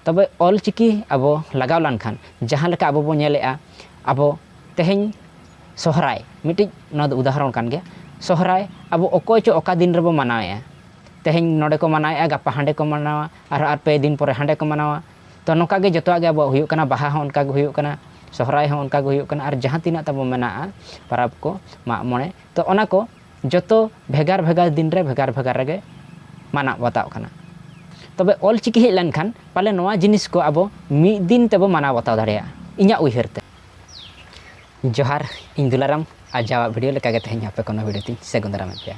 ᱛᱚᱵᱮ ᱚᱞ ᱪᱤᱠᱤ ᱟᱵᱚ ᱞᱟᱜᱟᱣ ᱞᱟᱱ ᱠᱷᱟᱱ ᱡᱟᱦᱟᱸ ᱞᱮᱠᱟ ᱟᱵᱚ ᱵᱚ ᱧᱮᱞᱮᱜᱼᱟ ᱟᱵᱚ ᱛᱮᱦᱮᱧ ᱥᱚᱦᱨᱟᱭ ᱢᱤᱫᱴᱤᱡ ᱱᱚᱣᱟ ᱫᱚ ᱩᱫᱟᱦᱚᱨᱚᱱ ᱠᱟᱱ ᱜᱮᱭᱟ ᱥᱚᱦᱨᱟᱭ ᱟᱵᱚ ᱚᱠᱚᱭ ᱪᱚ ᱚᱠᱟ ᱫᱤᱱ ᱨᱮᱵᱚ ᱢᱟᱱᱟᱣᱮᱜᱼᱟ ᱛᱮᱦᱮᱧ ᱱᱚᱰᱮ ᱠᱚ ᱢᱟᱱᱟᱣᱮᱜᱼᱟ ᱜᱟᱯᱟ ᱦᱟᱸᱰᱮ ᱠᱚ ᱢᱟᱱᱟᱣᱟ ᱟᱨᱦᱚᱸ ᱟᱨ ᱯᱮ ᱫᱤᱱ ᱯᱚᱨᱮ ᱦᱟᱸᱰᱮ ᱠᱚ ᱢᱟᱱᱟᱣᱟ ᱛᱚ ᱱᱚᱝᱠᱟ ᱜᱮ ᱡᱚᱛᱚᱣᱟᱜ ᱜᱮ ᱟᱵᱚᱣᱟᱜ ᱦᱩᱭᱩᱜ ᱠᱟᱱᱟ ᱵᱟᱦᱟ ᱦᱚᱸ ᱚᱱᱠᱟ ᱜᱮ ᱦᱩᱭᱩᱜ ᱠᱟᱱᱟ ᱥᱚᱦᱨᱟᱭ ᱦᱚᱸ ᱚᱱᱠᱟ ᱜᱮ ᱦᱩᱭᱩᱜ ᱠᱟᱱᱟ ᱟᱨ ᱡᱟᱦᱟᱸ ᱛᱤᱱᱟᱹᱜ ᱛᱟᱵᱚ ᱢᱮᱱᱟᱜᱼᱟ ᱯᱟᱨᱟᱵᱽ ᱠᱚ ᱢᱟᱜ ᱢᱚᱬᱮ ᱛᱚ ᱚᱱᱟ ᱠᱚ ᱡᱚᱛᱚ ᱵᱷᱮᱜᱟᱨ ᱵᱷᱮᱜᱟᱨ ᱫᱤᱱ ᱨᱮ ᱵᱷᱮᱜᱟᱨ ᱵᱷᱮᱜᱟᱨ ᱨᱮᱜᱮ ᱢᱟᱱᱟᱣ ᱵᱟᱛᱟᱣᱚᱜ ᱠᱟᱱᱟ ᱛᱚᱵᱮ ᱚᱞ ᱪᱤᱠᱤ ᱦᱮᱡ ᱞᱮᱱᱠᱷᱟᱱ ᱯᱟᱞᱮ ᱱᱚᱣᱟ ᱡᱤᱱᱤᱥ ᱠᱚ ᱟᱵᱚ ᱢᱤᱫ ᱫᱤᱱ ᱛᱮᱵᱚ ᱢᱟᱱᱟᱣ ᱵᱟᱛᱟᱣ ᱫᱟᱲᱮᱭᱟᱜᱼᱟ ᱤᱧᱟᱹᱜ ᱩᱭᱦᱟᱹᱨ ᱛᱮ ᱡᱚᱦᱟᱨ ᱤᱧ ᱫᱩᱞᱟᱨᱟᱢ ᱟᱨ ᱡᱟᱣᱟᱜ ᱵᱷᱤᱰᱤᱭᱳ ᱞᱮᱠᱟᱜᱮ ᱛᱮᱦᱮᱧ ᱟᱯᱮ ᱠᱚᱱᱚ ᱵᱷᱤᱰᱤᱭᱳ ᱛᱤᱧ ᱥᱟᱹᱜᱩᱱ ᱫᱟᱨᱟᱢᱮᱫ ᱯᱮᱭᱟ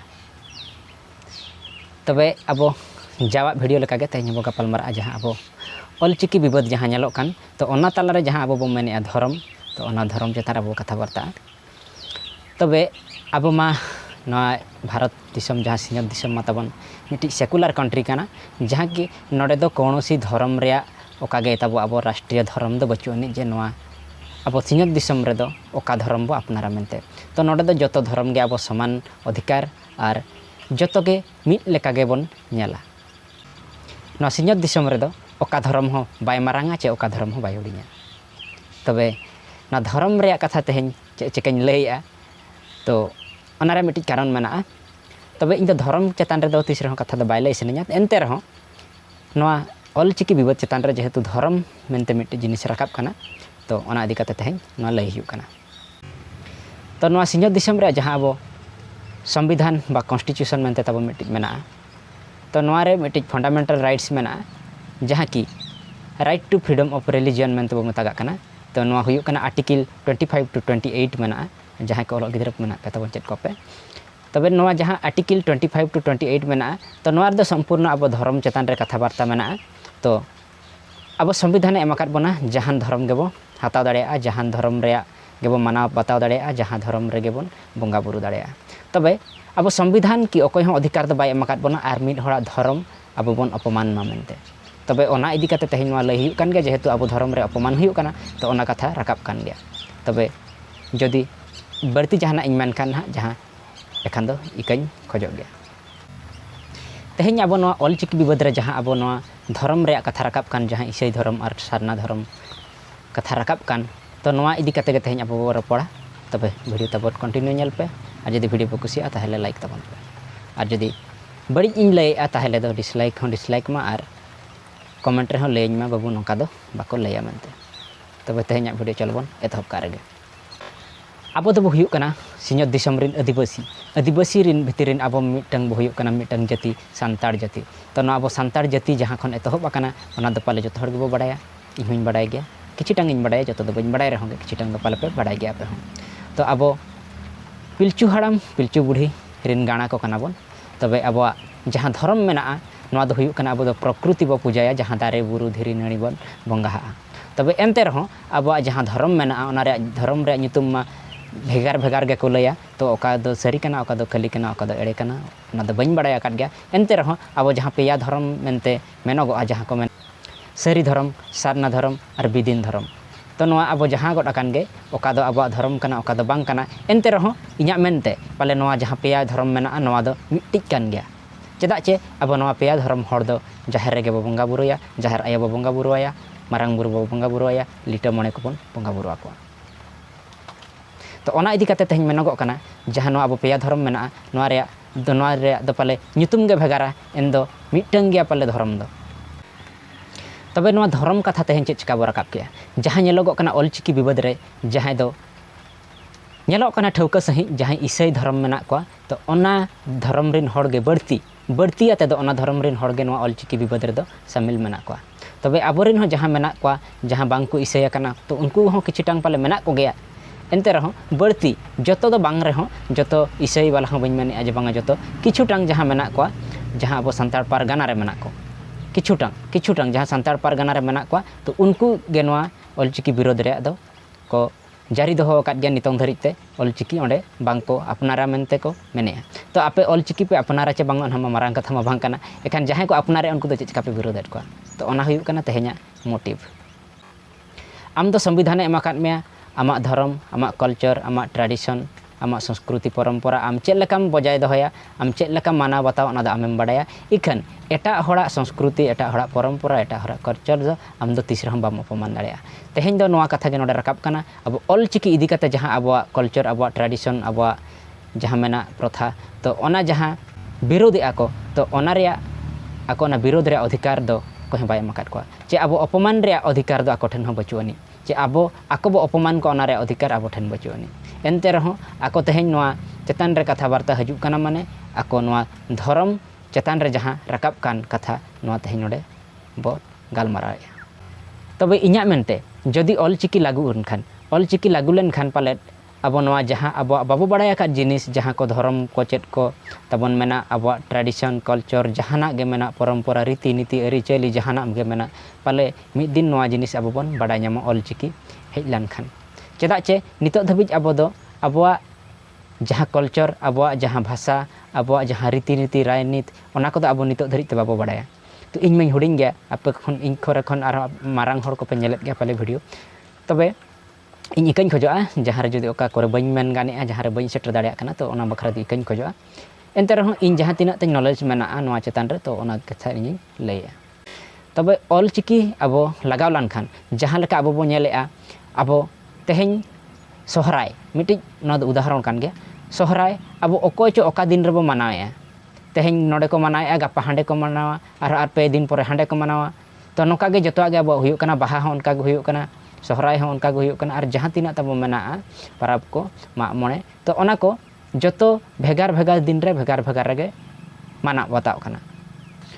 ᱛᱚᱵᱮ ᱟᱵᱚ ᱡᱟᱣᱟᱜ ᱵᱷᱤᱰᱤᱭᱳ ᱞᱮᱠᱟᱜᱮ ᱛᱮᱦᱮᱧ ᱵᱚ ᱜᱟᱯᱟᱞ ᱢᱟᱨᱟᱜᱼᱟ ᱡᱟᱦᱟᱸ ᱟᱵᱚ ᱚᱞ ᱪᱤᱠᱤ ᱵᱤᱵᱟᱹᱫ ᱡᱟᱦᱟᱸ ᱧᱮᱞᱚᱜ ᱠᱟᱱ ᱛᱚ ᱚᱱᱟ ᱛᱟᱞᱟᱨᱮ ᱡᱟᱦᱟᱸ ᱟᱵᱚ ᱵᱚᱱ ᱢᱮᱱᱮᱫᱼᱟ ᱫᱷᱚᱨᱚᱢ ᱛᱚ ᱚᱱᱟ ᱫᱷᱚᱨᱚᱢ ᱪᱮᱛᱟᱱ ᱨᱮ ᱟᱵᱚ ᱠᱟᱛᱷᱟ ᱵᱟᱨᱛᱟᱜᱼᱟ ᱛᱚᱵᱮ ᱟᱵᱚ ᱢᱟ ᱱᱚᱣᱟ ᱵᱷᱟᱨᱚᱛ ᱫᱤᱥᱚᱢ ᱡᱟᱦᱟᱸ ᱥᱤᱧᱚᱛ ᱫᱤᱥᱚᱢ ᱢᱟ ᱛᱟᱵᱚᱱ ᱢᱤᱫᱴᱤᱡ ᱥᱮᱠᱩᱞᱟᱨ ᱠᱟᱱᱴᱨᱤ ᱠᱟᱱᱟ ᱡᱟᱦᱟᱸ ᱠᱤ ᱱᱚᱰᱮ ᱫᱚ ᱠᱳᱱᱳᱥᱤ ᱫᱷᱚᱨᱚᱢ ᱨᱮᱭᱟᱜ ᱚᱠᱟ ᱜᱮ ᱛᱟᱵᱚ ᱟᱵᱚ ᱨᱟᱥᱴᱨᱤᱭᱚ ᱫᱷᱚᱨᱚᱢ ᱫᱚ ᱵᱟᱹᱪᱩᱜ ᱟᱹᱱᱤᱡ ᱡᱮ ᱱᱚᱣᱟ ᱟᱵᱚ ᱥᱤᱧᱚᱛ ᱫᱤᱥᱚᱢ ᱨᱮᱫᱚ ᱚᱠᱟ ᱫᱷᱚᱨᱚᱢ ᱵᱚ ᱟᱯᱱᱟᱨᱟ ᱢᱮᱱᱛᱮ ᱛᱚ ᱱᱚᱰᱮ ᱫᱚ ᱡᱚᱛᱚ ᱫᱷᱚᱨᱚᱢ ᱜᱮ ᱟᱵᱚ ᱥᱚᱢᱟᱱ ᱚᱫᱷᱤᱠᱟᱨ ᱟᱨ ᱡᱚᱛᱚ ᱜᱮ ᱢᱤᱫ ᱞᱮᱠᱟ ᱜᱮᱵᱚᱱ ᱧᱮᱞᱟ ᱱᱚᱣᱟ ᱥᱤᱧᱚᱛ ᱫᱤᱥᱚᱢ ᱨᱮᱫᱚ ᱚᱠᱟ ᱫᱷᱚᱨᱚᱢ ᱦᱚᱸ ᱵᱟᱭ ᱢᱟᱨᱟᱝᱟ ᱪᱮ ᱚᱠᱟ ᱫᱷᱚᱨᱚᱢ ᱦᱚᱸ ᱵᱟᱭ ᱦᱩᱰᱤᱧᱟ ᱛᱚᱵᱮ ᱱᱚᱣᱟ ᱫᱷᱚᱨᱚᱢ ᱨᱮᱭᱟᱜ ᱠᱟᱛᱷᱟ ᱛᱮᱦᱮᱧ ᱪᱮᱫ ᱪᱤᱠᱟᱹᱧ ᱞᱟᱹᱭᱮᱜᱼᱟ ᱛᱚ ᱚᱱᱟᱨᱮ ᱢᱤᱫᱴᱤᱡ ᱠᱟᱨᱚᱱ ᱢᱮᱱᱟᱜᱼᱟ ᱛᱚᱵᱮ ᱤᱧᱫᱚ ᱫᱷᱚᱨᱚᱢ ᱪᱮᱛᱟᱱ ᱨᱮᱫᱚ ᱛᱤᱥ ᱨᱮᱦᱚᱸ ᱠᱟᱛᱷᱟ ᱫᱚ ᱵᱟᱭ ᱞᱟᱹᱭ ᱥᱟᱱᱟᱧᱟ ᱮᱱᱛᱮ ᱨᱮᱦᱚᱸ ᱱᱚᱣᱟ ᱚᱞ ᱪᱤᱠᱤ ᱵᱤᱵᱟᱹᱫᱽ ᱪᱮᱛᱟᱱ ᱨᱮ ᱡᱮᱦᱮᱛᱩ ᱫᱷᱚᱨᱚᱢ ᱢᱮᱱᱛᱮ ᱢᱤᱫᱴᱤᱡ ᱡᱤᱱᱤᱥ ᱨᱟᱠᱟᱵ ᱠᱟᱱᱟ ᱛᱚ ᱚᱱᱟ ᱤᱫᱤ ᱠᱟᱛᱮ ᱛᱮᱦᱮᱧ ᱱᱚᱣᱟ ᱞᱟᱹᱭ ᱦᱩᱭᱩᱜ ᱠᱟᱱᱟ ᱛᱚ ᱱᱚᱣᱟ ᱥᱤᱧᱚᱛ ᱫᱤᱥᱚᱢ ᱨᱮ ᱡᱟᱦᱟᱸ ᱟᱵᱚ ᱥᱚᱝᱵᱤᱫᱷᱟᱱ ᱵᱟ ᱠᱚᱱᱥᱴᱤᱴᱤᱭᱩᱥᱚᱱ ᱢᱮᱱᱛᱮ ᱛᱟᱵᱚ ᱢᱤᱫᱴᱤᱡ ᱢᱮᱱᱟᱜᱼᱟ ᱛᱚ ᱱᱚᱣᱟ ᱨᱮ ᱢᱤᱫᱴᱤᱡ ᱯᱷᱟᱱᱰᱟᱢᱮᱱᱴᱟᱞ ᱨᱟᱭᱤᱴᱥ ᱢᱮᱱᱟᱜᱼᱟ ᱡᱟᱦᱟᱸ ᱠᱤ right to freedom of religion ᱢᱮᱱᱛᱮ ᱵᱚ ᱢᱮᱛᱟᱜ ᱠᱟᱱᱟ ᱛᱚ ᱱᱚᱣᱟ ᱦᱩᱭᱩᱜ ᱠᱟᱱᱟ article twenty five to twenty eight ᱢᱮᱱᱟᱜᱼᱟ ᱡᱟᱦᱟᱸᱭ ᱠᱚ ᱚᱞᱚᱜ ᱜᱤᱫᱽᱨᱟᱹ ᱠᱚ ᱢᱮᱱᱟᱜ ᱯᱮ ᱛᱟᱵᱚᱱ ᱪᱮᱫ ᱠᱚᱯᱮ ᱛᱚᱵᱮ ᱱᱚᱣᱟ ᱡᱟᱦᱟᱸ article twenty five to twenty eight ᱢᱮᱱᱟᱜᱼᱟ ᱛᱚ ᱱᱚᱣᱟ ᱨᱮᱫᱚ ᱥᱚᱢᱯᱩᱨᱱᱚ ᱟᱵᱚ ᱫᱷᱚᱨᱚᱢ ᱪᱮᱛᱟᱱ ᱨᱮ ᱠᱟᱛᱷᱟ ᱵᱟᱨᱛᱟ ᱢᱮᱱᱟᱜᱼᱟ ᱛᱚ ᱟᱵᱚ ᱥᱚᱝᱵᱤᱫᱷᱟᱱᱮ ᱮᱢ ᱟᱠᱟᱫ ᱵᱚᱱᱟ ᱡᱟᱦᱟᱱ ᱫᱷᱚᱨᱚᱢ ᱜᱮᱵᱚ ᱦᱟᱛᱟᱣ ᱫᱟᱲᱮᱭᱟᱜᱼᱟ ᱡᱟᱦᱟᱱ ᱫᱷᱚᱨᱚᱢ ᱨᱮᱭᱟᱜ ᱜᱮᱵᱚ ᱢᱟᱱᱟᱣ ᱵᱟᱛᱟᱣ ᱫᱟᱲᱮᱭᱟᱜᱼᱟ ᱡᱟᱦᱟᱸ ᱫᱷᱚᱨᱚᱢ ᱨᱮᱜᱮ ᱵᱚᱱ ᱵᱚᱸᱜᱟ ᱵᱩᱨᱩ ᱫᱟᱲᱮᱭᱟᱜᱼᱟ ᱛᱚᱵᱮ ᱟᱵᱚ ᱥᱚᱝᱵᱤᱫᱷᱟᱱ ᱠᱤ ᱚᱠᱚᱭ ᱦᱚᱸ ᱚᱫᱷᱤᱠᱟᱨ ᱫᱚ ᱵᱟᱭ ᱮᱢ ᱟᱠᱟᱫ ᱵᱚᱱᱟ ᱟᱨ ᱢᱤᱫ ᱦᱚᱲᱟᱜ ᱫᱷᱚᱨᱚᱢ ᱟᱵᱚ ᱵᱚᱱ ᱚᱯᱚᱢᱟᱱ ᱢᱟ ᱢᱮᱱᱛᱮ ᱛᱚᱵᱮ ᱚᱱᱟ ᱤᱫᱤ ᱠᱟᱛᱮ ᱛᱮᱦᱮᱧ ᱱᱚᱣᱟ ᱞᱟᱹᱭ ᱦᱩᱭᱩᱜ ᱠᱟᱱ ᱜᱮᱭᱟ ᱡᱮᱦᱮᱛᱩ ᱟᱵᱚ ᱫᱷᱚᱨᱚᱢ ᱨᱮ ᱚᱯᱚᱢᱟᱱ ᱦᱩᱭᱩᱜ ᱠᱟᱱᱟ ᱛᱚ ᱚᱱᱟ ᱠᱟᱛᱷᱟ ᱨᱟᱠᱟᱵ ᱠᱟᱱ ᱜᱮᱭᱟ ᱛᱚᱵᱮ ᱡᱩᱫᱤ ᱵᱟᱹᱲᱛᱤ ᱡᱟᱦᱟᱱᱟᱜ ᱤᱧ ᱢᱮᱱ ᱠᱷᱟᱱ ᱦᱟᱸᱜ ᱡᱟᱦᱟᱸ ᱮᱱᱠᱷᱟᱱ ᱫᱚ ᱤᱠᱟᱹᱧ ᱠᱷᱚᱡᱚᱜ ᱜᱮᱭᱟ ᱛᱮᱦᱮᱧ ᱟᱵᱚ ᱱᱚᱣᱟ ᱚᱞ ᱪᱤᱠᱤ ᱵᱤᱵᱟᱹᱫᱽ ᱨᱮ ᱡᱟᱦᱟᱸ ᱟᱵᱚ ᱱᱚᱣᱟ ᱫᱷᱚᱨᱚᱢ ᱨᱮᱭᱟᱜ ᱠᱟᱛᱷᱟ ᱨᱟᱠᱟᱵ ᱠᱟᱱ ᱡᱟᱦᱟᱸ ᱤᱥᱟᱹᱭ ᱫᱷᱚᱨᱚᱢ ᱟᱨ ᱥᱟᱨᱱᱟ ᱫᱷᱚᱨᱚᱢ ᱠᱟᱛᱷᱟ ᱨᱟᱠᱟᱵ ᱠᱟᱱ ᱛᱚ ᱱᱚᱣᱟ ᱤᱫᱤ ᱠᱟᱛᱮ ᱜᱮ ᱛᱮᱦᱮᱧ ᱟᱵᱚ ᱵᱚ ᱨᱚᱯᱚᱲᱟ ᱛᱚᱵᱮ ᱵᱷᱤᱰᱤᱭᱳ ᱛᱟᱵᱚᱱ ᱠᱚᱱᱴᱤᱱᱤᱭᱩ ᱧᱮᱞ ᱯᱮ ᱟᱨ ᱡᱩᱫᱤ ᱵᱷᱤᱰᱤᱭᱳ ᱯᱮ ᱠᱩᱥᱤᱭᱟᱜᱼᱟ ᱛᱟᱦᱚᱞᱮ ᱞᱟᱭᱤᱠ ᱛᱟᱵᱚᱱ ᱯᱮ ᱟᱨ ᱡᱩᱫᱤ ᱵᱟᱹᱲᱤᱡ ᱤᱧ ᱞᱟᱹᱭᱮᱜᱼᱟ ᱛᱟᱦᱚᱞᱮ ᱫᱚ ᱰᱤᱥᱞᱟᱭᱤᱠ ᱦᱚᱸ ᱰᱤᱥᱞᱟᱭᱤᱠ ᱢᱟ ᱟᱨ ᱠᱚᱢᱮᱱᱴ ᱨᱮᱦᱚᱸ ᱞᱟᱹᱭᱟᱹᱧ ᱢᱟ ᱵᱟᱹᱵᱩ ᱱᱚᱝᱠᱟ ᱫᱚ ᱵᱟᱠᱚ ᱞᱟᱹᱭᱟ ᱢᱮᱱᱛᱮ ᱛᱚᱵᱮ ᱛᱮᱦᱮᱧᱟᱜ ᱵᱷᱤᱰᱤᱭᱳ ᱪᱚᱞᱚ ᱵᱚᱱ ᱮᱛᱚᱦᱚᱵ ᱠᱟᱜ ᱨᱮᱜᱮ ᱟᱵᱚ ᱫᱚᱵᱚ ᱦᱩᱭᱩᱜ ᱠᱟᱱᱟ ᱥᱤᱧᱚᱛ ᱫᱤᱥᱚᱢ ᱨᱤᱱ ᱟᱹᱫᱤᱵᱟᱹᱥᱤ ᱟᱹᱫᱤᱵᱟᱹᱥᱤ ᱨᱤᱱ ᱵᱷᱤᱛᱤᱨ ᱨᱤᱱ ᱟᱵᱚ ᱢᱤᱫᱴᱟᱝ ᱵᱚ ᱦᱩᱭᱩᱜ ᱠᱟᱱᱟ ᱢᱤᱫᱴᱟᱝ ᱡᱟᱹᱛᱤ ᱥᱟᱱᱛᱟᱲ ᱡᱟᱹᱛᱤ ᱛᱚ ᱱᱚᱣᱟ ᱟᱵᱚ ᱥᱟᱱᱛᱟᱲ ᱡᱟᱹᱛᱤ ᱡᱟᱦᱟᱸ ᱠᱷᱚᱱ ᱮᱛᱚᱦᱚᱵ ᱟᱠᱟᱱᱟ ᱚᱱᱟ ᱫᱚ ᱯᱟᱞᱮ ᱡᱚᱛᱚ ᱦᱚᱲ ᱜᱮᱵᱚ ᱵᱟᱲᱟᱭᱟ ᱤᱧ ᱦᱚᱸᱧ ᱵᱟᱲᱟᱭ ᱜᱮᱭᱟ ᱠᱤᱪᱷᱩᱴᱟᱝ ᱤᱧ ᱵᱟᱲᱟᱭᱟ ᱡᱚᱛᱚ ᱫᱚ ᱵᱟᱹᱧ ᱵᱟᱲᱟᱭ ᱨᱮᱦᱚᱸ ᱜᱮ ᱠᱤᱪᱷᱩᱴᱟᱝ ᱫᱚ ᱯᱟᱞᱮ ᱯᱮ ᱵᱟᱲᱟᱭ ᱜᱮᱭᱟ ᱟᱯᱮ ᱦᱚᱸ ᱛᱚ ᱟᱵᱚ ᱯᱤᱞᱪᱩ ᱦᱟᱲᱟᱢ ᱯᱤᱞᱪᱩ ᱵᱩᱲᱦᱤ ᱨᱤᱱ ᱜᱟᱬᱟ ᱠᱚ ᱠᱟᱱᱟ ᱵᱚᱱ ᱛᱚᱵᱮ ᱟᱵᱚᱣᱟᱜ ᱡᱟᱦᱟᱸ ᱫᱷᱚᱨᱚᱢ ᱢᱮᱱᱟᱜᱼᱟ ᱱᱚᱣᱟ ᱫᱚ ᱦᱩᱭᱩᱜ ᱠᱟᱱᱟ ᱟᱵᱚ ᱫᱚ ᱯᱨᱚᱠᱨᱤᱛᱤ ᱵᱚ ᱯᱩᱡᱟᱹᱭᱟ ᱡᱟᱦᱟᱸ ᱫᱟᱨᱮ ᱵᱩᱨᱩ ᱫᱷᱤᱨᱤ ᱱᱟᱹᱲᱤ ᱵᱚᱱ ᱵᱚᱸᱜᱟᱣᱟᱜᱼᱟ ᱛᱚᱵᱮ ᱮᱱᱛᱮ ᱨᱮᱦᱚᱸ ᱟᱵᱚᱣᱟᱜ ᱡᱟᱦᱟᱸ ᱫᱷᱚᱨᱚᱢ ᱢᱮᱱᱟᱜᱼᱟ ᱚᱱᱟ ᱨᱮᱭᱟᱜ ᱫᱷᱚᱨᱚᱢ ᱨᱮᱭᱟᱜ ᱧᱩᱛᱩᱢ ᱢᱟ ᱵᱷᱮᱜᱟᱨ ᱵᱷᱮᱜᱟᱨ ᱜᱮᱠᱚ ᱞᱟᱹᱭᱟ ᱛᱚ ᱚᱠᱟ ᱫᱚ ᱥᱟᱹᱨᱤ ᱠᱟᱱᱟ ᱚᱠᱟ ᱫᱚ ᱠᱷᱟᱹᱞᱤ ᱠᱟᱱᱟ ᱚᱠᱟ ᱫᱚ ᱮᱲᱮ ᱠᱟᱱᱟ ᱚᱱᱟ ᱫᱚ ᱵᱟᱹᱧ ᱵᱟᱲᱟᱭ ᱟᱠᱟᱫ ᱜᱮᱭᱟ ᱮᱱᱛᱮ ᱨᱮᱦᱚᱸ ᱟᱵᱚ ᱡᱟᱦᱟᱸ ᱯᱮᱭᱟ ᱫᱷᱚᱨᱚᱢ ᱢᱮᱱᱛᱮ ᱢᱮᱱᱚᱜᱚᱜᱼᱟ ᱡᱟᱦᱟᱸ ᱠᱚ ᱢᱮᱱ ᱥᱟᱹᱨᱤ ᱫᱷᱚᱨᱚᱢ ᱥᱟᱨᱱᱟ ᱫᱷᱚᱨᱚᱢ ᱟᱨ ᱵᱤᱫᱤᱱ ᱫᱷᱚᱨᱚᱢ ᱛᱚ ᱱᱚᱣᱟ ᱟᱵᱚ ᱡᱟᱦᱟᱸ ᱜᱚᱫ ᱟᱠᱟᱱ ᱜᱮ ᱚᱠᱟ ᱫᱚ ᱟᱵᱚᱣᱟᱜ ᱫᱷᱚᱨᱚᱢ ᱠᱟᱱᱟ ᱚᱠᱟ ᱫᱚ ᱵᱟᱝ ᱠᱟᱱᱟ ᱮᱱᱛᱮ ᱨᱮᱦᱚᱸ ᱤᱧᱟᱹᱜ ᱢᱮᱱᱛᱮ ᱯᱟᱞᱮ ᱱᱚᱣᱟ ᱡᱟᱦᱟᱸ ᱯᱮᱭᱟ ᱫᱷᱚᱨᱚᱢ ᱢᱮᱱᱟᱜᱼᱟ ᱱᱚᱣᱟ ᱫᱚ ᱢᱤᱫᱴᱤᱡ ᱠᱟᱱ ᱜᱮᱭᱟ ᱪᱮᱫᱟᱜ ᱪᱮ ᱟᱵᱚ ᱱᱚᱣᱟ ᱯᱮᱭᱟ ᱫᱷᱚᱨᱚᱢ ᱦᱚᱲ ᱫᱚ ᱡᱟᱦᱮᱨ ᱨᱮᱜᱮ ᱵᱚ ᱵᱚᱸᱜᱟ ᱵᱳᱨᱳᱭᱟ ᱡᱟᱦᱮᱨ ᱟᱭᱳ ᱵᱚ ᱵᱚᱸᱜᱟ ᱵᱳᱨᱳ ᱟᱭᱟ ᱢᱟᱨᱟᱝ ᱵᱳᱨᱳ ᱵᱚ ᱵᱚᱸᱜᱟ ᱵᱳᱨᱳ ᱟᱭᱟ ᱞᱤᱴᱟᱹ ᱢᱚᱬᱮ ᱠᱚᱵᱚᱱ ᱵᱚᱸᱜᱟ ᱵᱳᱨᱳ ᱟᱠᱚᱣᱟ ᱛᱚ ᱚᱱᱟ ᱤᱫᱤ ᱠᱟᱛᱮ ᱛᱮᱦᱮᱧ ᱢᱮᱱᱚᱜᱚᱜ ᱠᱟᱱᱟ ᱡᱟᱦᱟᱸ ᱱᱚᱣᱟ ᱟᱵᱚ ᱯᱮᱭᱟ ᱫᱷᱚᱨᱚᱢ ᱢᱮᱱᱟᱜᱼᱟ ᱱᱚᱣᱟ ᱨᱮᱭᱟᱜ ᱫᱚ ᱱᱚᱣᱟ ᱨᱮᱭᱟᱜ ᱫᱚ ᱯᱟᱞᱮ ᱧᱩᱛᱩᱢ ᱜᱮ ᱵᱷᱮᱜᱟᱨᱟ ᱮᱱ ᱫᱚ ᱢᱤᱫᱴᱟᱝ ᱜᱮᱭᱟ ᱯᱟᱞᱮ ᱫᱷᱚᱨᱚᱢ ᱫᱚ ᱛᱚᱵᱮ ᱱᱚᱣᱟ ᱫᱷᱚᱨᱚᱢ ᱠᱟᱛᱷᱟ ᱛᱮᱦᱮᱧ ᱪᱮᱫ ᱪᱤᱠᱟ ᱵᱚ ᱨᱟᱠᱟᱵ ᱠᱮᱜᱼᱟ ᱡᱟᱦᱟᱸ ᱧᱮᱞᱚᱜᱚᱜ ᱠᱟᱱᱟ ᱚᱞᱪᱤᱠᱤ ᱵᱤᱵᱟᱹᱫᱽ ᱨᱮ ᱡᱟᱦᱟᱸᱭ ᱫᱚ ᱧᱮᱞᱚᱜ ᱠᱟᱱᱟ ᱴᱷᱟᱹᱣᱠᱟᱹ ᱥᱟᱺᱦᱤᱡ ᱡᱟᱦᱟᱸᱭ ᱤᱥᱟᱹᱭ ᱫᱷᱚᱨᱚᱢ ᱢᱮᱱᱟᱜ ᱠᱚᱣᱟ ᱛᱚ ᱚᱱᱟ ᱫᱷᱚᱨᱚᱢ ᱨᱤᱱ ᱦᱚᱲ ᱜᱮ ᱵᱟᱹᱲᱛᱤ ᱵᱟᱹᱲᱛᱤ ᱟᱛᱮ ᱫᱚ ᱚᱱᱟ ᱫᱷᱚᱨᱚᱢ ᱨᱤᱱ ᱦᱚᱲ ᱜᱮ ᱱᱚᱣᱟ ᱚᱞ ᱪᱤᱠᱤ ᱵᱤᱵᱟᱹᱫᱽ ᱨᱮᱫᱚ ᱥᱟᱢᱤᱞ ᱢᱮᱱᱟᱜ ᱠᱚᱣᱟ ᱛᱚᱵᱮ ᱟᱵᱚ ᱨᱤᱱ ᱦᱚᱸ ᱡᱟᱦᱟᱸ ᱢᱮᱱᱟᱜ ᱠᱚᱣᱟ ᱡᱟᱦᱟᱸ ᱵᱟᱝ ᱠᱚ ᱤᱥᱟᱹᱭ ᱟᱠᱟᱱᱟ ᱛᱚ ᱩᱱᱠᱩ ᱦᱚᱸ ᱠᱤᱪᱷᱩ ᱴᱟᱝ ᱯᱟᱞᱮ ᱢᱮᱱᱟᱜ ᱠᱚ ᱜᱮᱭᱟ ᱮᱱᱛᱮ ᱨᱮᱦᱚᱸ ᱵᱟᱹᱲᱛᱤ ᱡᱚᱛᱚ ᱫᱚ ᱵᱟᱝ ᱨᱮᱦᱚᱸ ᱡᱚᱛᱚ ᱤᱥᱟᱹᱭ ᱵᱟᱞᱟ ᱦᱚᱸ ᱵᱟᱹᱧ ᱢᱮᱱᱮᱜᱼᱟ ᱡᱮ ᱵᱟᱝᱟ ᱡᱚᱛᱚ ᱠᱤᱪᱷᱩ ᱴᱟᱝ ᱡᱟᱦᱟᱸ ᱢᱮᱱᱟᱜ ᱠᱚᱣᱟ ᱡᱟᱦᱟᱸ ᱟᱵᱚ ᱥᱟᱱᱛᱟᱲ ᱯᱟᱨᱜᱟᱱᱟ ᱨᱮ ᱢᱮᱱᱟᱜ ᱠᱚ ᱠᱤᱪᱷᱩ ᱴᱟᱝ ᱠᱤᱪᱷᱩ ᱴᱟᱝ ᱡᱟᱦᱟᱸ ᱥᱟᱱᱛᱟᱲ ᱯᱟᱨᱜᱟᱱᱟ ᱨᱮ ᱢᱮᱱᱟᱜ ᱠᱚᱣᱟ ᱛᱚ ᱩᱱᱠᱩ ᱜᱮ ᱱᱚᱣᱟ ᱚᱞ ᱪᱤᱠᱤ ᱵᱤᱨᱳᱫᱽ ᱨᱮᱭᱟᱜ ᱫᱚ ᱠᱚ ᱡᱟᱹᱨᱤ ᱫᱚᱦᱚ ᱟᱠᱟᱫ ᱜᱮᱭᱟ ᱱᱤᱛᱚᱝ ᱫᱷᱟᱹᱨᱤᱡ ᱛᱮ ᱚᱞᱪᱤᱠᱤ ᱚᱸᱰᱮ ᱵᱟᱝ ᱠᱚ ᱟᱯᱱᱟᱨᱟ ᱢᱮᱱᱛᱮ ᱠᱚ ᱢᱮᱱᱮᱫᱼᱟ ᱛᱚ ᱟᱯᱮ ᱚᱞᱪᱤᱠᱤ ᱯᱮ ᱟᱯᱱᱟᱨᱟ ᱪᱮ ᱵᱟᱝ ᱚᱱᱟ ᱢᱟ ᱢᱟᱨᱟᱝ ᱠᱟᱛᱷᱟ ᱢᱟ ᱵᱟᱝ ᱠᱟᱱᱟ ᱮᱱᱠᱷᱟᱱ ᱡᱟᱦᱟᱸᱭ ᱠᱚ ᱟᱯᱱᱟᱨᱮᱫᱼᱟ ᱩᱱᱠᱩ ᱫᱚ ᱪᱮᱫ ᱪᱤᱠᱟᱹ ᱯᱮ ᱵᱤᱨᱳᱫᱮᱫ ᱠᱚᱣᱟ ᱛᱚ ᱚᱱᱟ ᱦᱩᱭᱩᱜ ᱠᱟᱱᱟ ᱛᱮᱦᱮᱧᱟᱜ ᱢᱳᱴᱤᱵᱷ ᱟᱢ ᱫᱚ ᱥᱚᱝᱵᱤᱫᱷᱟᱱᱮ ᱮᱢ ᱟᱠᱟᱫ ᱢᱮᱭᱟ ᱟᱢᱟᱜ ᱫᱷᱚᱨᱚᱢ ᱟᱢᱟᱜ ᱠᱟᱞᱪᱟᱨ ᱟᱢᱟᱜ ᱴᱨᱟᱰᱤᱥᱚᱱ ᱟᱢᱟᱜ ᱥᱚᱸᱥᱠᱨᱩᱛᱤ ᱯᱚᱨᱚᱢᱯᱚᱨᱟ ᱟᱢ ᱪᱮᱫ ᱞᱮᱠᱟᱢ ᱵᱚᱡᱟᱭ ᱫᱚᱦᱚᱭᱟ, ᱟᱢ ᱪᱮᱫ ᱞᱮᱠᱟᱢ ᱢᱟᱱᱟᱣ ᱵᱟᱛᱟᱣᱟ ᱚᱱᱟ ᱫᱚ ᱟᱢᱮᱢ ᱵᱟᱰᱟᱭᱟ᱾ ᱤᱠᱷᱟᱹᱱ ᱮᱴᱟᱜ ᱦᱚᱲᱟᱜ ᱥᱚᱸᱥᱠᱨᱩᱛᱤ, ᱮᱴᱟᱜ ᱦᱚᱲᱟᱜ ᱯᱚᱨᱚᱢᱯᱚᱨᱟ, ᱮᱴᱟᱜ ᱦᱚᱲᱟᱜ ᱠᱚᱨᱪᱚᱨ ᱫᱚ ᱟᱢ ᱫᱚ ᱛᱤᱥ ᱨᱮᱦᱚᱸ ᱵᱟᱢ ᱚᱯᱚᱢᱟᱱ ᱫᱟᱲᱮᱭᱟᱜᱼᱟ᱾ ᱛᱮᱦᱮᱧ ᱫᱚ ᱱᱚᱣᱟ ᱠᱟᱛᱷᱟ ᱜᱮ ᱱᱚᱰᱮ ᱨᱟᱠᱟᱵ ᱠᱟᱱᱟ᱾ ᱟᱵᱚ ᱚᱞ ᱪᱤᱠᱤ ᱤᱫᱤ ᱠᱟᱛᱮ ᱡᱟᱦᱟᱸ ᱟᱵᱚᱣᱟᱜ ᱠᱚᱞᱪᱚᱨ, ᱟᱵᱚᱣᱟᱜ ᱴᱨᱟᱰᱤᱥᱚᱱ, ᱟᱵᱚᱣᱟᱜ ᱡᱟᱦᱟᱸ ᱢᱮᱱᱟᱜ ᱯᱨᱚᱛᱷᱟ ᱛᱚ ᱚᱱᱟ ᱡᱟᱦᱟᱸ ᱵᱤᱨᱳᱫᱷ ᱮᱫᱼᱟ ᱠᱚ ᱛᱚ ᱚᱱᱟ ᱨᱮᱭᱟᱜ ᱟᱠᱚ ᱚᱱᱟ ᱵᱤᱨᱳᱫᱷ ᱨᱮᱭᱟᱜ ᱚᱫᱷᱤᱠᱟᱨ ᱫᱚ ᱚᱠᱚᱭ ᱦᱚᱸ ᱵᱟᱭ ᱮᱢ ᱟᱠᱟᱫ ᱠᱚᱣᱟ᱾ ᱪᱮ ᱟᱵᱚ ᱚᱯᱚᱢᱟᱱ ᱨᱮᱭᱟᱜ ᱚᱫᱷᱤᱠᱟᱨ ᱫᱚ ᱟᱠᱚ ᱴᱷᱮᱱ ᱦᱚᱸ ᱵᱟᱹᱪᱩᱜ ᱟᱹᱱᱤᱡ᱾ ᱡᱮ ᱟᱵᱚ ᱟᱠᱚ ᱵᱚ ᱚᱯᱚᱢᱟᱱ ᱠᱚᱣᱟ ᱚᱱᱟ ᱨᱮᱭᱟᱜ ᱚᱫᱷᱤᱠᱟᱨ ᱟᱵᱚ ᱴᱷᱮᱱ ᱵᱟᱹᱪᱩᱜ ᱟᱹᱱᱤᱡ ᱮᱱᱛᱮ ᱨᱮᱦᱚᱸ ᱟᱠᱚ ᱛᱮᱦᱮᱧ ᱱᱚᱣᱟ ᱪᱮᱛᱟᱱ ᱨᱮ ᱠᱟᱛᱷᱟ ᱵᱟᱨᱛᱟ ᱦᱤᱡᱩᱜ ᱠᱟᱱᱟ ᱢᱟᱱᱮ ᱟᱠᱚ ᱱᱚᱣᱟ ᱫᱷᱚᱨᱚᱢ ᱪᱮᱛᱟᱱ ᱨᱮ ᱡᱟᱦᱟᱸ ᱨᱟᱠᱟᱵ ᱠᱟᱱ ᱠᱟᱛᱷᱟ ᱱᱚᱣᱟ ᱛᱮᱦᱮᱧ ᱱᱚᱰᱮ ᱵᱚ ᱜᱟᱞᱢᱟᱨᱟᱣᱮᱜᱼᱟ ᱛᱚᱵᱮ ᱤᱧᱟᱹᱜ ᱢᱮᱱᱛᱮ ᱡᱩᱫᱤ ᱚᱞᱪᱤᱠᱤ ᱞᱟᱹᱜᱩᱜ ᱮᱱᱠᱷᱟᱱ ᱚᱞᱪᱤᱠᱤ ᱞᱟᱹᱜᱩ ᱞᱮᱱᱠᱷᱟᱱ ᱯᱟᱞᱮᱫ ᱟᱵᱚ ᱱᱚᱣᱟ ᱡᱟᱦᱟᱸ ᱟᱵᱚᱣᱟᱜ ᱵᱟᱵᱚ ᱵᱟᱲᱟᱭ ᱟᱠᱟᱫ ᱡᱤᱱᱤᱥ ᱡᱟᱦᱟᱸ ᱠᱚ ᱫᱷᱚᱨᱚᱢ ᱠᱚ ᱪᱮᱫ ᱠᱚ ᱛᱟᱵᱚᱱ ᱢᱮᱱᱟᱜ ᱟᱵᱚᱣᱟᱜ ᱴᱨᱟᱰᱤᱥᱚᱱ ᱠᱟᱞᱪᱚᱨ ᱡᱟᱦᱟᱱᱟᱜ ᱜᱮ ᱢᱮᱱᱟᱜ ᱯᱚᱨᱚᱢᱯᱚᱨᱟ ᱨᱤᱛᱤ ᱱᱤᱛᱤ ᱟᱹᱨᱤᱪᱟᱹᱞᱤ ᱡᱟᱦᱟᱱᱟᱜ ᱜᱮ ᱢᱮᱱᱟᱜ ᱯᱟᱞᱮ ᱢᱤᱫ ᱫᱤᱱ ᱱᱚᱣᱟ ᱡᱤᱱᱤᱥ ᱟᱵᱚ ᱵᱚᱱ ᱵᱟᱰᱟᱭ ᱧᱟᱢᱟ ᱚᱞ ᱪᱤᱠᱤ ᱦᱮᱡ ᱞᱮᱱᱠᱷᱟᱱ ᱪᱮᱫᱟᱜ ᱪᱮ ᱱᱤᱛᱚᱜ ᱫᱷᱟᱹᱵᱤᱡ ᱟᱵᱚ ᱫᱚ ᱟᱵᱚᱣᱟᱜ ᱡᱟᱦᱟᱸ ᱠᱟᱞᱪᱚᱨ ᱟᱵᱚᱣᱟᱜ ᱡᱟᱦᱟᱸ ᱵᱷᱟᱥᱟ ᱟᱵᱚᱣᱟᱜ ᱡᱟᱦᱟᱸ ᱨᱤᱛᱤ ᱱᱤᱛᱤ ᱨᱟᱭᱱᱤᱛ ᱚᱱᱟ ᱠᱚᱫᱚ ᱟᱵᱚ ᱱᱤᱛᱚᱜ ᱫᱷᱟᱹᱨᱤᱡ ᱛᱮ ᱵᱟᱵᱚ ᱵᱟᱰᱟᱭᱟ ᱛᱚ ᱤᱧ ᱢᱟᱹᱧ ᱦᱩᱰᱤᱧ ᱜᱮᱭᱟ ᱟᱯᱮ ᱠᱷᱚᱱ ᱤᱧ ᱠᱷᱚᱱ ᱟᱨᱦᱚᱸ ᱢᱟᱨᱟᱝ ᱦᱚᱲ ᱠᱚᱯᱮ ᱧᱮᱞᱮᱫ ᱜᱮᱭᱟ ᱯᱟᱞᱮ ᱵᱷᱤᱰᱤᱭᱳ ᱛᱚᱵᱮ ᱤᱧ ᱤᱠᱟᱹᱧ ᱠᱷᱚᱡᱚᱜᱼᱟ ᱡᱟᱦᱟᱸ ᱨᱮ ᱡᱩᱫᱤ ᱚᱠᱟ ᱠᱚᱨᱮ ᱵᱟᱹᱧ ᱢᱮᱱ ᱜᱟᱱᱮᱜᱼᱟ ᱡᱟᱦᱟᱸ ᱨᱮ ᱵᱟᱹᱧ ᱥᱮᱴᱮᱨ ᱫᱟᱲᱮᱭᱟᱜ ᱠᱟᱱᱟ ᱛᱚ ᱚᱱᱟ ᱵᱟᱠᱷᱨᱟ ᱫᱚ ᱤᱠᱟᱹᱧ ᱠᱷᱚᱡᱚᱜᱼᱟ ᱮᱱᱛᱮ ᱨᱮᱦᱚᱸ ᱤᱧ ᱡᱟᱦᱟᱸ ᱛᱤᱱᱟᱹᱜ ᱛᱤᱧ ᱱᱚᱞᱮᱡᱽ ᱢᱮᱱᱟᱜᱼᱟ ᱱᱚᱣᱟ ᱪᱮᱛᱟᱱ ᱨᱮ ᱛᱚ ᱚᱱᱟ ᱠᱟᱛᱷᱟ ᱤᱧᱤᱧ ᱞᱟᱹᱭᱮᱜᱼᱟ ᱛᱚᱵᱮ ᱚᱞ ᱪᱤᱠᱤ ᱟᱵᱚ ᱞᱟᱜᱟᱣ ᱞᱮᱱᱠᱷᱟᱱ ᱡᱟᱦᱟᱸ ᱞᱮᱠᱟ ᱟᱵᱚ ᱵᱚᱱ ᱧᱮᱞᱮᱜᱼᱟ ᱟᱵᱚ ᱛᱮᱦᱮᱧ ᱥᱚᱦᱨᱟᱭ ᱢᱤᱫᱴᱤᱡ ᱱᱚᱣᱟ ᱫᱚ ᱩᱫᱟᱦᱚᱨᱚᱱ ᱠᱟᱱ ᱜᱮᱭᱟ ᱥᱚᱦᱨᱟᱭ ᱟᱵᱚ ᱚᱠᱚᱭ ᱪᱚ ᱚᱠᱟ ᱫᱤᱱ ᱨᱮᱵᱚ ᱢᱟᱱᱟᱣᱮᱜᱼᱟ ᱛᱮᱦᱮᱧ ᱱᱚᱰᱮ ᱠᱚ ᱢᱟᱱᱟᱣᱮᱜᱼᱟ ᱜᱟᱯᱟ ᱦᱟᱸᱰᱮ ᱠᱚ ᱢᱟᱱᱟᱣᱟ ᱟᱨᱦᱚᱸ ᱟᱨ ᱯᱮ ᱫᱤᱱ ᱯᱚᱨᱮ ᱦᱟᱸᱰᱮ ᱠᱚ ᱢᱟᱱᱟᱣᱟ ᱛᱚ ᱱᱚᱝᱠᱟ ᱜᱮ ᱡᱚᱛᱚᱣᱟᱜ ᱜᱮ ᱟᱵᱚᱣᱟᱜ ᱦᱩᱭᱩᱜ ᱠᱟᱱᱟ ᱵᱟᱦᱟ ᱦᱚᱸ ᱚᱱᱠᱟ ᱜᱮ ᱦᱩᱭᱩᱜ ᱠᱟᱱᱟ ᱥᱚᱦᱨᱟᱭ ᱦᱚᱸ ᱚᱱᱠᱟ ᱜᱮ ᱦᱩᱭᱩᱜ ᱠᱟᱱᱟ ᱟᱨ ᱡᱟᱦᱟᱸ ᱛᱤᱱᱟᱹᱜ ᱛᱟᱵᱚ ᱢᱮᱱᱟᱜᱼᱟ ᱯᱟᱨᱟᱵᱽ ᱠᱚ ᱢᱟᱜ ᱢᱚᱬᱮ ᱛᱚ ᱚᱱᱟ ᱠᱚ ᱡᱚᱛᱚ ᱵᱷᱮᱜᱟᱨ ᱵᱷᱮᱜᱟᱨ ᱫᱤᱱ ᱨᱮ ᱵᱷᱮᱜᱟᱨ ᱵᱷᱮᱜᱟᱨ ᱨᱮᱜᱮ ᱢᱟᱱᱟᱣ ᱵᱟᱛᱟᱣᱚᱜ ᱠᱟᱱᱟ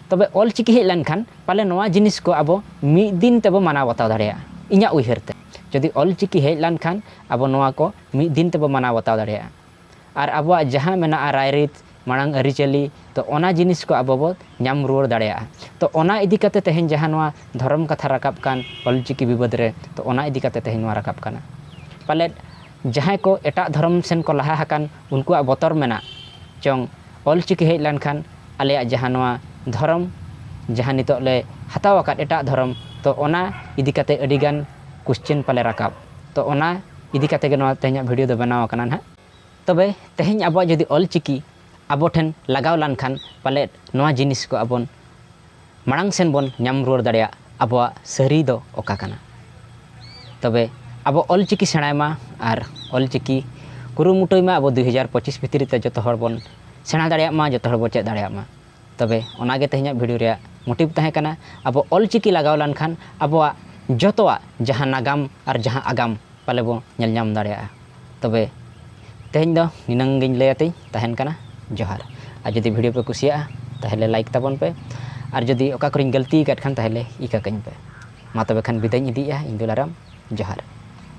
ᱛᱚᱵᱮ ᱚᱞ ᱪᱤᱠᱤ ᱦᱮᱡ ᱞᱮᱱᱠᱷᱟᱱ ᱯᱟᱞᱮ ᱱᱚᱣᱟ ᱡᱤᱱᱤᱥ ᱠᱚ ᱟᱵᱚ ᱢᱤᱫ ᱫᱤᱱ ᱛᱮᱵᱚ ᱢᱟᱱᱟᱣ ᱵᱟᱛᱟᱣ ᱫᱟᱲᱮᱭᱟᱜᱼᱟ ᱤᱧᱟᱹᱜ ᱩᱭᱦᱟᱹᱨ ᱛᱮ ᱡᱩᱫᱤ ᱚᱞ ᱪᱤᱠᱤ ᱦᱮᱡ ᱞᱮᱱᱠᱷᱟᱱ ᱟᱵᱚ ᱱᱚᱣᱟ ᱠᱚ ᱢᱤᱫ ᱫᱤᱱ ᱛᱮᱵᱚ ᱢᱟᱱᱟᱣ ᱵᱟᱛᱟᱣ ᱫᱟᱲᱮᱭᱟᱜᱼᱟ ᱟᱨ ᱟᱵᱚᱣᱟᱜ ᱡᱟᱦᱟᱸ ᱢᱮᱱᱟᱜᱼᱟ ᱨᱟᱭᱨᱤᱛ ᱢᱟᱲᱟᱝ ᱟᱹᱨᱤᱪᱟᱹᱞᱤ ᱛᱚ ᱚᱱᱟ ᱡᱤᱱᱤᱥ ᱠᱚ ᱟᱵᱚ ᱵᱚ ᱧᱟᱢ ᱨᱩᱣᱟᱹᱲ ᱫᱟᱲᱮᱭᱟᱜᱼᱟ ᱛᱚ ᱚᱱᱟ ᱤᱫᱤ ᱠᱟᱛᱮ ᱛᱮᱦᱮᱧ ᱡᱟᱦᱟᱸ ᱱᱚᱣᱟ ᱫᱷᱚᱨᱚᱢ ᱠᱟᱛᱷᱟ ᱨᱟᱠᱟᱵ ᱠᱟᱱ ᱚᱞ ᱪᱤᱠᱤ ᱵᱤᱵᱟᱹᱫᱽ ᱨᱮ ᱛᱚ ᱚᱱᱟ ᱤᱫᱤ ᱠᱟᱛᱮ ᱛᱮᱦᱮᱧ ᱱᱚᱣᱟ ᱨᱟᱠᱟᱵ ᱠᱟᱱᱟ ᱯᱟᱞᱮᱫ ᱡᱟᱦᱟᱸᱭ ᱠᱚ ᱮᱴᱟᱜ ᱫᱷᱚᱨᱚᱢ ᱥᱮᱱ ᱠᱚ ᱞᱟᱦᱟ ᱟᱠᱟᱱ ᱩᱱᱠᱩᱣᱟᱜ ᱵᱚᱛᱚᱨ ᱢᱮᱱᱟᱜ ᱪᱚᱝ ᱚᱞ ᱪᱤᱠᱤ ᱦᱮᱡ ᱞᱮᱱᱠᱷᱟᱱ ᱟᱞᱮᱭᱟᱜ ᱡᱟᱦᱟᱸ ᱱᱚᱣᱟ ᱫᱷᱚᱨᱚᱢ ᱡᱟᱦᱟᱸ ᱱᱤᱛᱚᱜ ᱞᱮ ᱦᱟᱛᱟᱣ ᱟᱠᱟᱫ ᱮᱴᱟᱜ ᱫᱷᱚᱨᱚᱢ ᱛᱚ ᱚᱱᱟ ᱤᱫᱤ ᱠᱟᱛᱮ ᱟᱹᱰᱤ ᱜᱟᱱ ᱠᱚᱥᱪᱮᱱ ᱯᱟᱞᱮ ᱨᱟᱠᱟᱵ ᱛᱚ ᱚᱱᱟ ᱤᱫᱤ ᱠᱟᱛᱮ ᱜᱮ ᱱᱚᱣᱟ ᱛᱮᱦᱮᱧᱟᱜ ᱵᱷᱤᱰᱤᱭᱳ ᱫᱚ ᱵᱮᱱᱟᱣ ᱟᱠᱟᱱᱟ ᱱᱟᱦᱟᱜ ᱛᱚᱵᱮ ᱛᱮᱦᱮᱧ ᱟᱵᱚᱣᱟᱜ ᱡᱩᱫᱤ ᱚᱞ ᱪᱤᱠᱤ ᱟᱵᱚ ᱴᱷᱮᱱ ᱞᱟᱜᱟᱣ ᱞᱟᱱ ᱠᱷᱟᱱ ᱯᱟᱞᱮᱫ ᱱᱚᱣᱟ ᱡᱤᱱᱤᱥ ᱠᱚ ᱟᱵᱚᱱ ᱢᱟᱲᱟᱝ ᱥᱮᱱ ᱵᱚᱱ ᱧᱟᱢ ᱨᱩᱣᱟᱹᱲ ᱫᱟᱲᱮᱭᱟᱜ ᱟᱵᱚᱣᱟᱜ ᱥᱟᱹᱨᱤ ᱫᱚ ᱚᱠᱟ ᱠᱟᱱᱟ ᱛᱚᱵᱮ ᱟᱵᱚ ᱚᱞ ᱪᱤᱠᱤ ᱥᱮᱬᱟᱭ ᱢᱟ ᱟᱨ ᱚᱞ ᱪᱤᱠᱤ ᱠᱩᱨᱩᱢᱩᱴᱩᱭ ᱢᱟ ᱟᱵᱚ ᱫᱩᱭ ᱦᱟᱡᱟᱨ ᱯᱚᱸᱪᱤᱥ ᱵᱷᱤᱛᱨᱤ ᱛᱮ ᱡᱚᱛᱚ ᱦᱚᱲ ᱵᱚᱱ ᱥᱮᱬᱟ ᱫᱟᱲᱮᱭᱟᱜ ᱢᱟ ᱡᱚᱛᱚ ᱦᱚᱲ ᱵᱚᱱ ᱪᱮᱫ ᱫᱟᱲᱮᱭᱟᱜ ᱢᱟ ᱛᱚᱵᱮ ᱚᱱᱟ ᱜᱮ ᱛᱮᱦᱮᱧᱟᱜ ᱵᱷᱤᱰᱤᱭᱳ ᱨᱮᱭᱟᱜ ᱢᱳᱴᱤᱵᱷ ᱛᱟᱦᱮᱸ ᱠᱟᱱᱟ ᱟᱵᱚ ᱚᱞ ᱪᱤᱠᱤ ᱞᱟᱜᱟᱣ ᱞᱮᱱ ᱠᱷᱟᱱ ᱟᱵᱚᱣᱟᱜ ᱡᱚᱛᱚᱣᱟᱜ ᱡᱟᱦᱟᱸ ᱱᱟᱜᱟᱢ ᱟᱨ ᱡᱟᱦᱟᱸ ᱟᱜᱟᱢ ᱯᱟᱞᱮ ᱵᱚ ᱧᱮᱞ ᱧᱟᱢ ᱫᱟᱲᱮᱭᱟᱜᱼᱟ ᱛᱚᱵᱮ ᱛᱮᱦᱮᱧ ᱫᱚ ᱱᱤᱱᱟᱹᱝ ᱜᱮᱧ ᱞᱟᱹᱭ ᱟᱛᱮᱧ ᱛᱟᱦᱮᱱ ᱠᱟᱱᱟ ᱡᱚᱦᱟᱨ ᱟᱨ ᱡᱩᱫᱤ ᱵᱷᱤᱰᱤᱭᱳ ᱯᱮ ᱠᱩᱥᱤᱭᱟᱜᱼᱟ ᱛᱟᱦᱚᱞᱮ ᱞᱟᱭᱤᱠ ᱛᱟᱵᱚᱱ ᱯᱮ ᱟᱨ ᱡᱩᱫᱤ ᱚᱠᱟ ᱠᱚᱨᱮᱧ ᱜᱟᱹᱞᱛᱤ ᱟᱠᱟᱫ ᱠᱷᱟᱱ ᱛᱟᱦᱚᱞᱮ ᱤᱠᱟᱹ ᱠᱟᱹᱧ ᱯᱮ ᱢᱟ ᱛᱚᱵᱮ ᱠᱷᱟᱱ ᱵᱤᱫᱟᱹᱭ ᱤᱧ ᱤᱫᱤᱭᱮᱜᱼᱟ ᱤᱧ ᱫᱩᱞᱟᱨᱟᱢ ᱡᱚᱦᱟᱨ